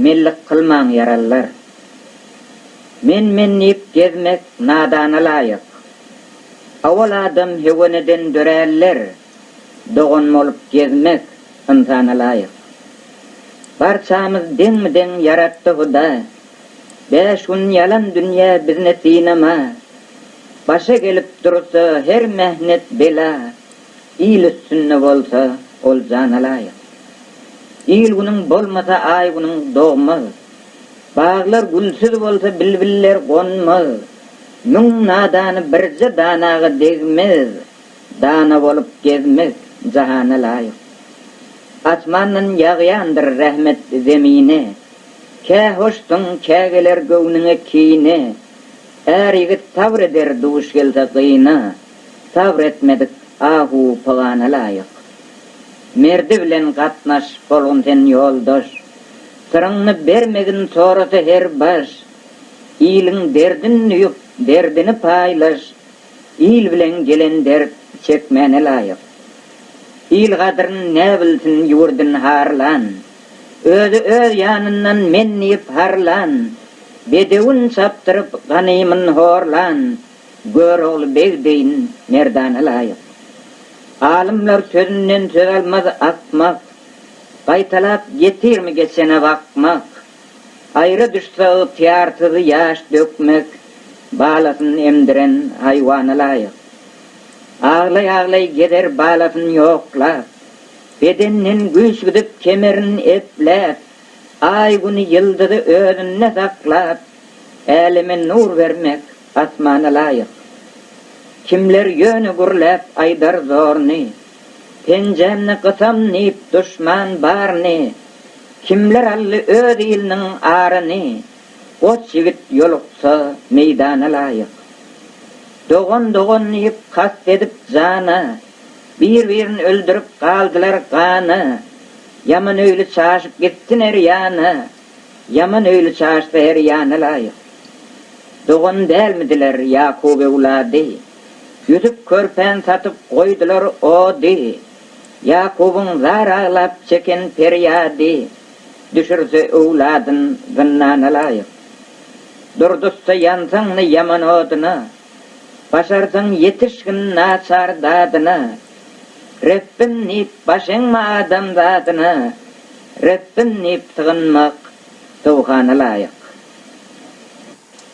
Mellik kylmaň ýarallar. Men men diýip gezmek nadana laýyk. Owal adam heweneden döräller, dogan bolup gezmek ynsana laýyk. Barçamyz deňmi deň ýaratdy huda, bäş gün ýalan dünýä bizni synama. Başa gelip dursa her mähnet bela. Il üstünde bolsa, ol jana laýyk. Il-günüň bolmasa, aý-günüň dogmaz. Baglar gülsüz bolsa, bilbiller gonmaz. Müň nadany birje danaga degmez. Dana bolup gezmek jahana laýyk. Asmandan ýagýandyr rahmet zemine. Kä hoşsuň, kä geler göwnüňe kine. Är ýigit sabr eder duş gelse gyna. Sabr etmedik ahu pygana laýyk. Merdi bilen gatnaş bolgun sen ýoldaş. Syryňny bermegin sorasa her baş. Iliň derdin düýüp derdini paýlaş. Il bilen gelen dert çekmäne laýyk. Il gadryn näbilsin ýurdyn harlan. Özi öz ýanyndan men diýip harlan. Bedewin çapdyryp ganymyn horlan. Görogly beg deýin merdana laýyk. Alymlar sözünden söz almaz akmak. Gaýtalap getirmi geçene bakmak. Aýra düşse ygtyýarsyz ýaş dökmek. Balasyn emdiren haýwana laýyk. Aglaý-aglaý gezer balasyn ýoklap. Bedeninden güýç gidip kemerin epläp. Aý-güni ýyldyzy özünde saklap. Äleme nur bermek. Asmana laýyk. Kimler ýöne gürläp aýdar zorny, Penjämni gysam diýip duşman barny, Kimler aldy öz iliniň aryny, Goç ýigit ýoluksa meýdana laýyk. Dogan dogan diýip kast edip jana, Bir-birini öldürip galdylar gana, Ýamanöýli çaşyp gitsin her ýana, Ýaman öýli çaşsa her ýana laýyk. Dogan dälmidiler Ýakup öwlady. Ýüzüp körpäni satyp goýdular ody. Ýakubyň zar aglap çeken perýady. Düşürse öwladyn zyndana laýyk. Durduzsa ýansaňny ýaman odyna. Başarsaň ýetişgin naçar dadyna. Rebbim diýip baş eňme adam zadyna. Rebbiň diýip sygynmak dowgana laýyk.